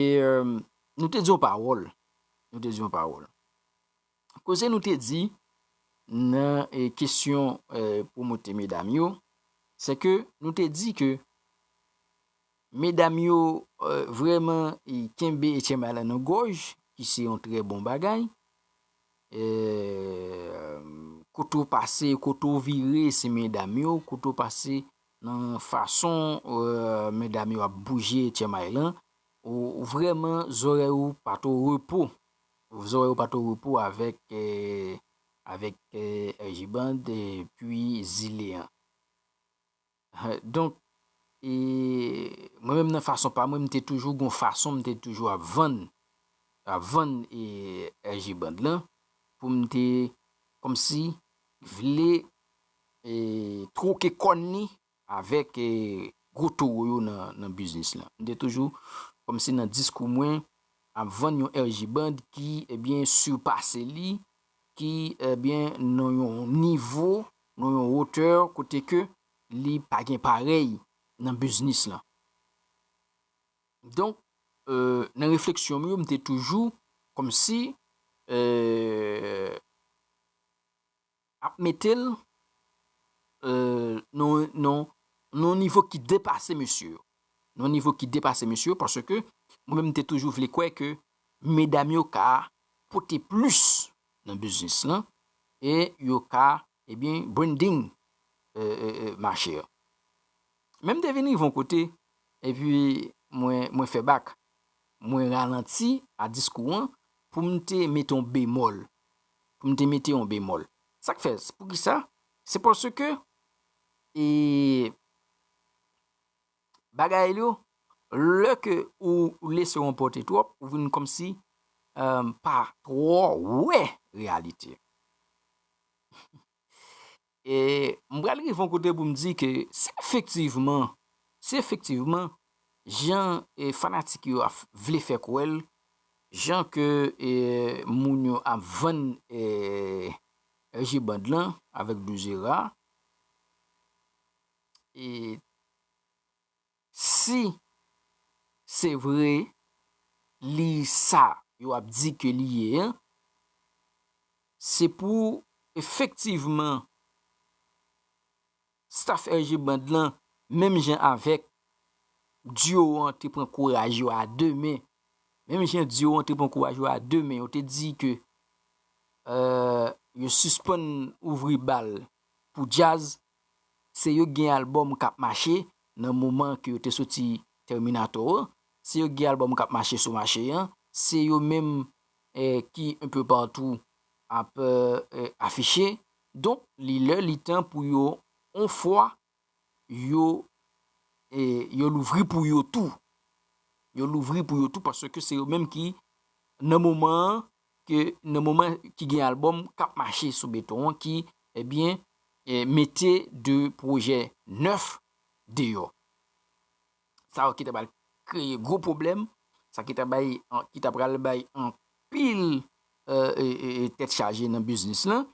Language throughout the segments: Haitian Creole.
E nou te di yon pawòl, nou te di yon pawòl. Koze nou te di nan kesyon pwomote medam yo, se ke nou te di ke medam yo vreman kenbe Etienne Bâle nan gòj, ki se yon trè bon bagay. E kote ou pase, kote ou vire se medam yo, kote ou pase Nan fason medam yo ap bouje tchèmay lan, ou vrèman zòrèy ou pat o repo. Zòrèy ou pat o repo avèk avèk RJ Band epi Zile an. Donk, e mwen menm nan fason pa mwen m te toujou gon fason m te toujou ap vann ap vann e RJ Band lan pou m te kòmsi vle twoke kòn li avèk gwo towo yo nan biznis lan. M te toujou, kòm si nan diskou mwen, ap vann yon RJ Band ki, ebyen, sipase li, ki, ebyen, nan yon nivo, nan yon wotè kote ke li pa gen parèy nan biznis lan. Donk, nan refleksyon m yo, m te toujou, kòm si, eee. Ap mete l nan yon nivo ki depase mesye yo. Nan yon nivo ki depase mesye yo paske mwen menm m te toujou vle kwè ke medam yo ka pote plis nan biznis lan e yo ka ebyen branding mache an. Men m te vin rive yon kote, epi mwen fè bak. Mwen ralanti a diskou an pou m te mete yon bemòl. Pou m te mete yon bemòl. Sa k fè? Pou ki sa? Se paske e bagay yo, lè ke ou lese ou anpòte twòp, ou vin kòmsi pa twò wè reyalite. E m pral rive yon kote pou m di ke si efektivman, si efektivman jan fanatik yo ap vle fè kwè l, jan ke moun yo ap vann RG Band lan avèk Dou Zera, e. Si se vre li sa yo ap di ke li ye an, se pou efektivman staff RG Band lan menm jan avèk duo an te pran kouraj yo a 2 men, menm jan duo an te pran kouraj yo a 2 men, yo te di ke yo sispann ouvri bal pou djaz, Se yo k gen album kap mache nan moman ke yo te soti Terminator an, se yo k gen album kap mache sou mache an, se yo menm ki un peu partout ap afiche, donk li lè li tan pou yo on fwa yo yo louvri pou yo tou, yo louvri pou yo tou paske se yo menm ki nan moman an ke nan moman ki gen album kap mache sou beton an ki ebyen mete 2 pwojè nèf deyò. Sa yo ki ta pral kreye gwo pwoblèm, sa ki ta bay, ki ta pral bay anpil tèt chaje nan biznis lan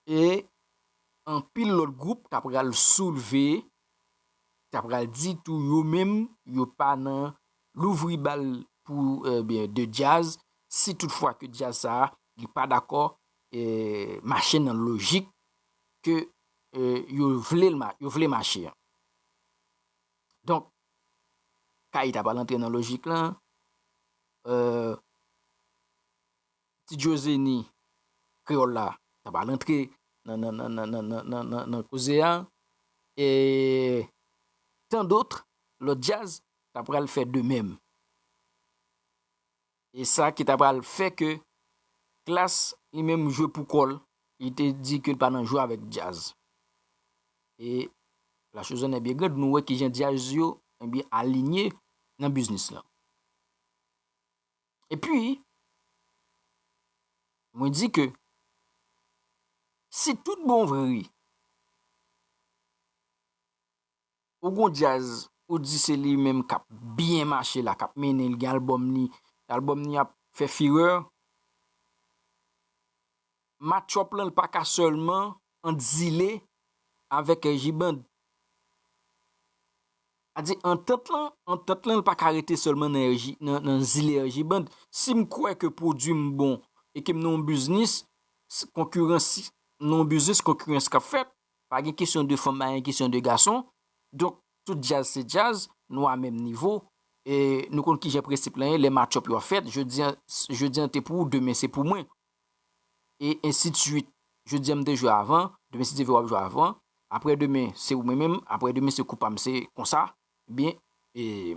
e anpil lòt gwoup ta pral soulve ta pral di tou yo menm yo pa nan louvri bal pou ebyen de djaz si tout fwa ke djaz sa a li pa dakò mache nan lojik ke yo vle l yo vle mache an donk Kay ta pral antre nan lojik lan eee. Ti Djo Zeni kreyòl la ta pral antre nan koze a e tan dotre lòt djaz ta pral fè de menm. E sa ki ta pral fè ke Klass li menm jwe pou kò l, li te di ke l pa nan jwe avèk djaz. E la chose en est bien grande, nou wè kijan djaz yo alinye nan biznis lan. E pi, mwen di ke si tout bon vre ou gon djaz ou di se li menm k ap byen mache la, k ap mennen, li gen albòm li, albòm li ap fè firè, matchup lan li pa ka sèlman ant Zile avèk J-Band. A di antant lan, antant lan li pa ka rete sèlman nan RJ, nan Zile ak J-Band. Si m kwè ke pwodui m bon e ke m nan yon biznis, konkirans, nan yon biznis konkirans k ap fèt, pa gen kesyon de fanm, pa gen kesyon de gason, donk tout djaz se djaz, nou a menm nivo, e nou konn kijan prensip lan ye, lè matchup yo ap fèt, jodi an, jodi an te pou ou, demen se pou mwen. e ensi de suit. Jodi a m te jwe avan, demen si Dye vle w ap jwe avan, aprè demen se ou mwen menm, aprè demen se kou pa m se konsa, ebyen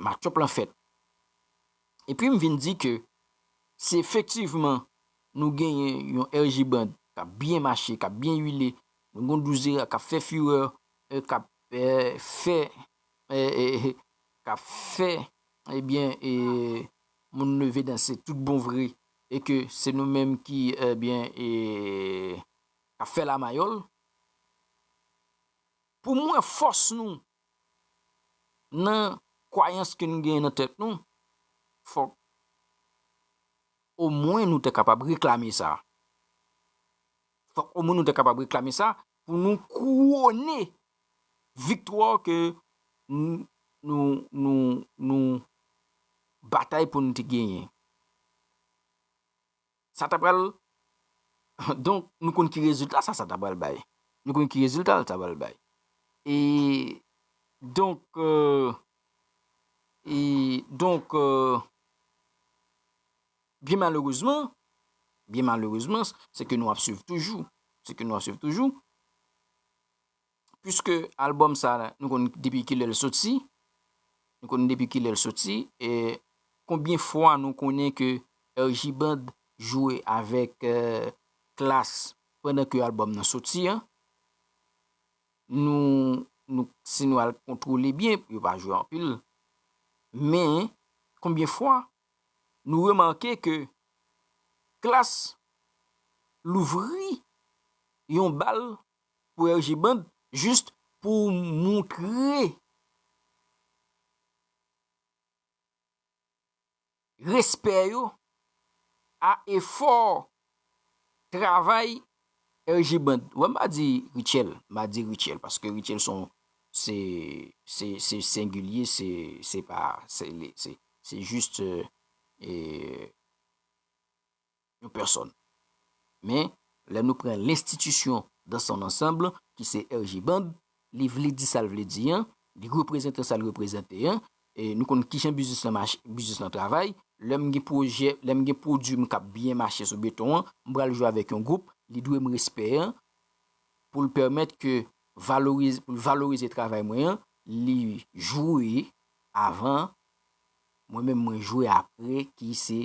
match-up lan fèt. E pi m vin di ke si efektivman nou genyen yon RJ Band k ap byen mache, k ap byen wile, nou gen yon Douzera k ap fè furè, k ap fè, k ap fè ebyen moun leve danse tout bon vre e ke se nou menm ki ebyen e kap fè la mayòl pou m wè fòs nou nan kwayans ke nou genyen nan tèt nou fòk o mwen nou te kapab reklame sa. Fòk omwen nou te kapab reklame sa pou nou kouwone viktwa ke nou batay pou nou te genyen. Sa ta pral, donk nou konn ki rezilta sa sa ta pral bay. Nou konn ki rezilta l ta pral bay. E donk, e donk. Byen malerezman, byen malerezman, se ke nou ap swiv toujou, se ke nou ap swiv toujou, pwiske albòm sa la, nou konn depi kilè l soti, nou konn depi kilè l soti, e konbyen fwa nou konnen ke RJ Band jwe avèk Klass pandan ke albòm nan soti an, nou, nou, si nou al kontwole byen, yo pa jwe anpil, men, konbyen fwa nou remake ke Klass louvri yon bal pou RJ Band just pou moutre respè yo a efò travay RJ band wè m pa di Rutshelle m pa di Rutshelle paske Rutshelle son se se se sengilye se se pa se li se se jis yon pèsòn men lè nou pran lenstitisyon dans son ansanb ki se RJ band Li vle di sa l vle di an, li reprezante sa l reprezante an, nou konn kijan biznis lan mache, biznis lan travay. Lè m gen pwojè, lè m gen pwodui m k ap byen mache sou beton an, m pral jwe avèk yon gwoup, li dwe m respè an pou l pèmèt ke valorize, pou l valorize travay mwen an, li jwe avan, mwen menm mwen jwe apre ki se.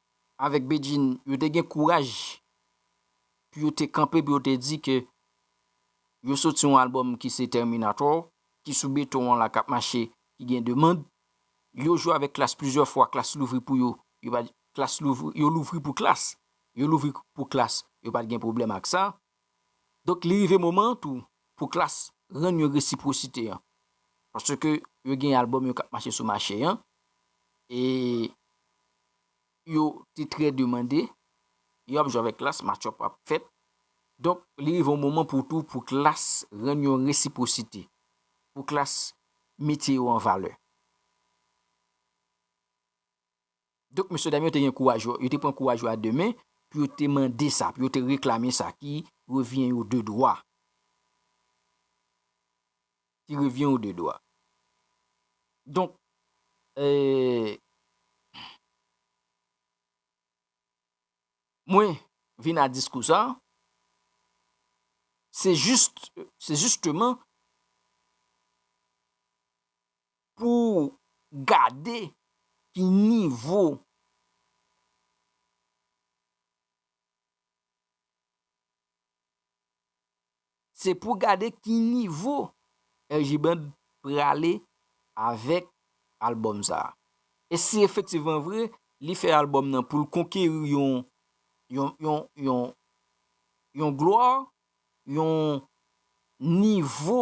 avèk Bedjine yo te gen kouraj pou yo te kanpe pou yo te di ke yo soti yon album ki se Terminator ki sou beton an la kap mache ki gen demand yo jwe avèk klass plizyè fwa klass louvri pou yo yo pat klass louvri yo louvri pou klass yo louvri pou klass yo pat gen pwoblèm ak sa. Donk li rive moman an tou pou Klass rann yon resipwosite an. Paske yo gen album yo k ap mache sou mache an e yo te trè demande, yo ap jwe avèk Klass, match-up ap fèt. Donk li rive yon moman pou tou pou Klass rann yon resipwosite, pou Klass mete yo an valè. Donk, mesye dam yo te gen kouraj yo, yo te pran kouraj yo a de men pou yo te mande sa, pou yo te reklame sa ki revyen yo de dwa. Ki revyen yo de dwa. Donk, ee, mwen vin a diskou sa, se jist, se jisteman, Pou w gade ki nivo. Se pou gade ki nivo RJ Band prale avèk album sa. E si efektivman vre li fè album nan pou l konkeri yon yon gloire, yon nivo.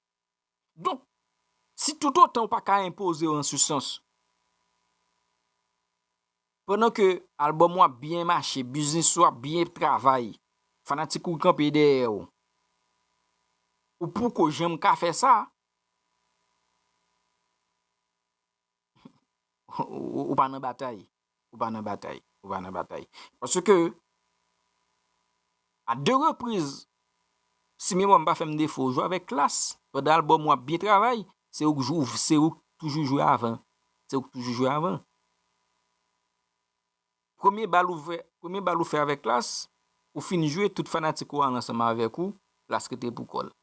Donk, si toutotan ou pa ka enpoze w an se sans, pandan ke album ou ap byen mache, biznis ou ap byen travay, fanatik ou kanpe dèyè w, ou poko janm ka fè sa, Ou pa nan batay. Ou pa nan batay. Ou pa nan batay. Paske, a 2 repriz, si memwa m pa fè m defo, ou jwe avèk Klass, pandan albòm ou ap byen travay, se ou k jou, se ou k toujou jwe avan. Se ou k toujou jwe avan. Premye bal ou fè, premye bal ou fè avèk Klass, ou fin jwe, tout fanatik ou al ansanm avèk ou, Klass rete pou kò l.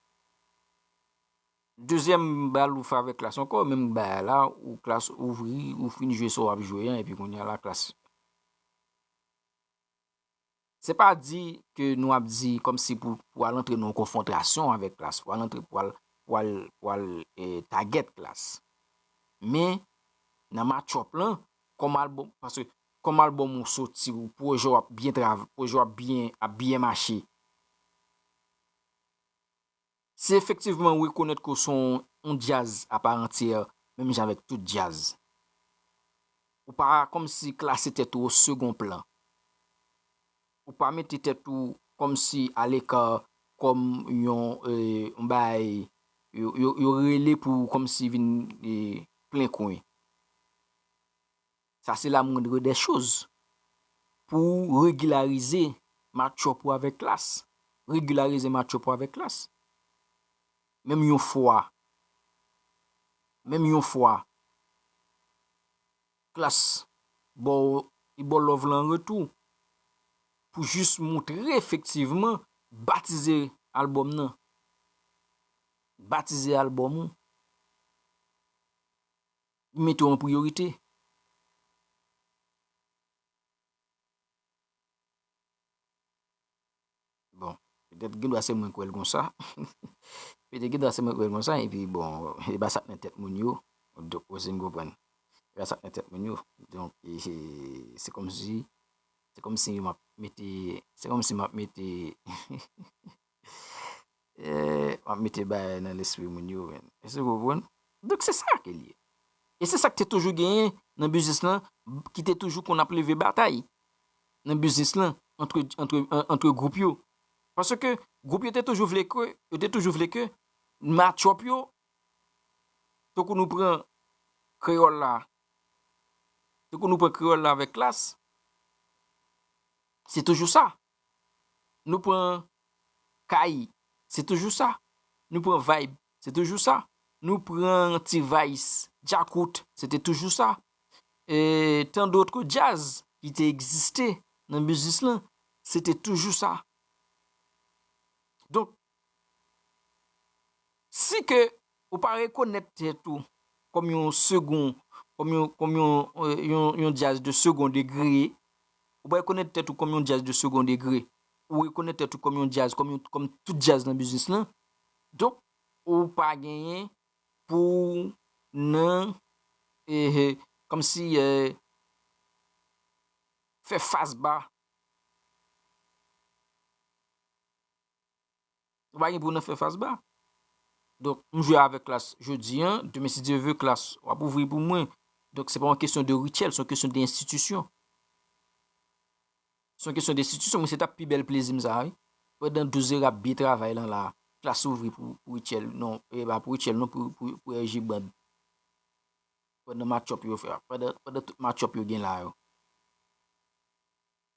Dezyèm bal ou fè avèk klas ankò, menm bagay a la, ou klas ouvri, ou fin jwe sa w ap jwe an epi kounye a la klas. Se pa di ke nou ap di kòm si pou pou al antre nan yon konfwontrasyon avèk klas, pou al antre pou al pou al pou al e tagèt klas. Men, nan matchòp lan, kòm albòm, paske kòm albòm ou soti, ou pwojè w ap byen trav, pwojè w ap byen ap byen mache. Si efektivman ou rekonèt ke w se yon djaz a part entière menm jan avèk tout djaz, ou pa kòmsi klase tèt ou o second plan, ou pa mete tèt ou kòmsi a l'ecart kòm yon bagay yo rele pou kòmsi vin plen kwen. Sa se la moindre des choses pou ou regularize match-up ou avèk klass. Regularize match-up ou avèk klass. Menm yon fwa, menm yon fwa, klass ba w, li ba w love lan an retou, pou jis moutre efektivman, batize album nan. Batize album ou. M mete w an priyorite. Bon, petèt gen dwa se mwen k wè l konsa. Petèt gen dwa se mwen k wè l konsa epi bon, e pa sa k nan tèt moun yo. Donk, w ese m konprann. E pa sa k nan tèt moun yo. Donk, se kòmsi, se kòmsi m ap mete, se kòmsi m ap mete. Wap mete bagay nan lespri moun yo menn. Èske nou konprann? Donk se sa ke li ye. E se sa ki te toujou genyen nan biznis lan, ki te toujou konn ap leve batay nan biznis lan antre gwoup yo. Paske gwoup yo te toujou vle ke, yo te toujou vle ke matchòp yo, tankou nou pran kreyòl la, tankou nou pran kreyòl la avèk klas, se toujou sa. Nou pran kay, se toujou sa. Nou pran vayb, se toujou sa. Nou pran T-vice, Djakout, se te toujou sa. E tan dotre djaz ki te egziste nan biznis lan, se te toujou sa. Donk, Si ke ou pa rekonèt tèt ou kòm yon segond, kòm yon, kòm yon, yon, yon djaz de segond degre, ou pa rekonèt tèt ou kòm yon djaz de segond degre, ou rekonèt tèt ou kòm yon djaz, kòm yon, kòm tout djaz nan biznis lan, donk ou pa genyen pou w nan, ehe, kòm si e, fè fas ba. Ou pa gen pou nan fè fas ba. Donk, m jwe avèk klas jodi an, demen si Dye ve klas w ap ouvri pou mwen. Donk, se pa yon kesyon de rityèl, se yon kesyon de enstitisyon. Se yon kesyon de enstitisyon, mwen se ta pi bèl plezi m sa wi. Pandan 12 zè rap byen travay lan la, klas ouvri pou rityèl, non, e pa pou rityèl non, pou RJ Band. Pandan match-up yo fè a, pandan tout match-up yo gen la yo.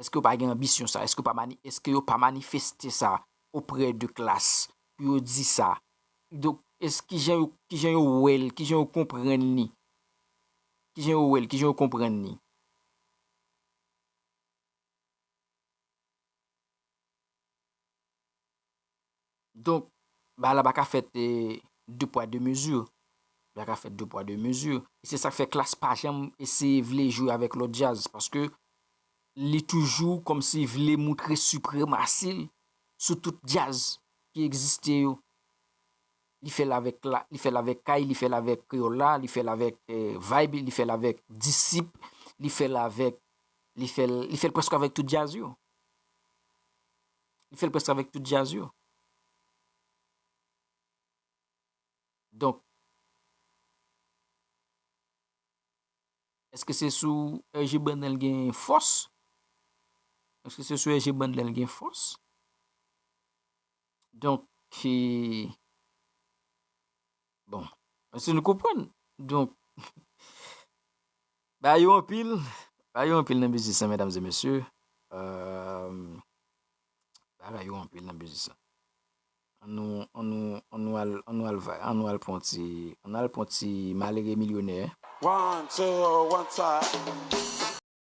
Eske yo pa gen anbisyon sa? Eske yo pa manifeste sa oprè de klas pou yo di sa? Donk, kijan yo wè l, kijan yo konprann li? Kijan yo wè l, kijan yo konprann li? Donk, bagay la pa ka fèt de pwa de mezi. Li pa ka fèt de pwa de mezi. E se sa k fè Klass pa janm eseye vle jwe avèk lòt djaz. Paske li toujou kòmsi vle moutre sipremasi l sou tout djaz ki egziste yo. Li fè l avèk Kay, li fè l avèk Kreyòl la, li fè l avèk Vibe, li fè l avèk Disip, li fè l avèk, li fè l prèske avèk tout djaz yo. Li fè l prèske avèk tout djaz yo. Donk, èske se sou RG Band lè l gen fòs? Èske se sou RG Band lè l gen fòs? Donk, Bon, si nou konprann, donk, ba yo anpil, ba yo anpil nan biznis lan medam e mesye, ba yo anpil nan biznis lan. An nou, an nou, an nou al, an nou al va, an nou al pran yon ti, an nou al pran yon ti malere milyonè.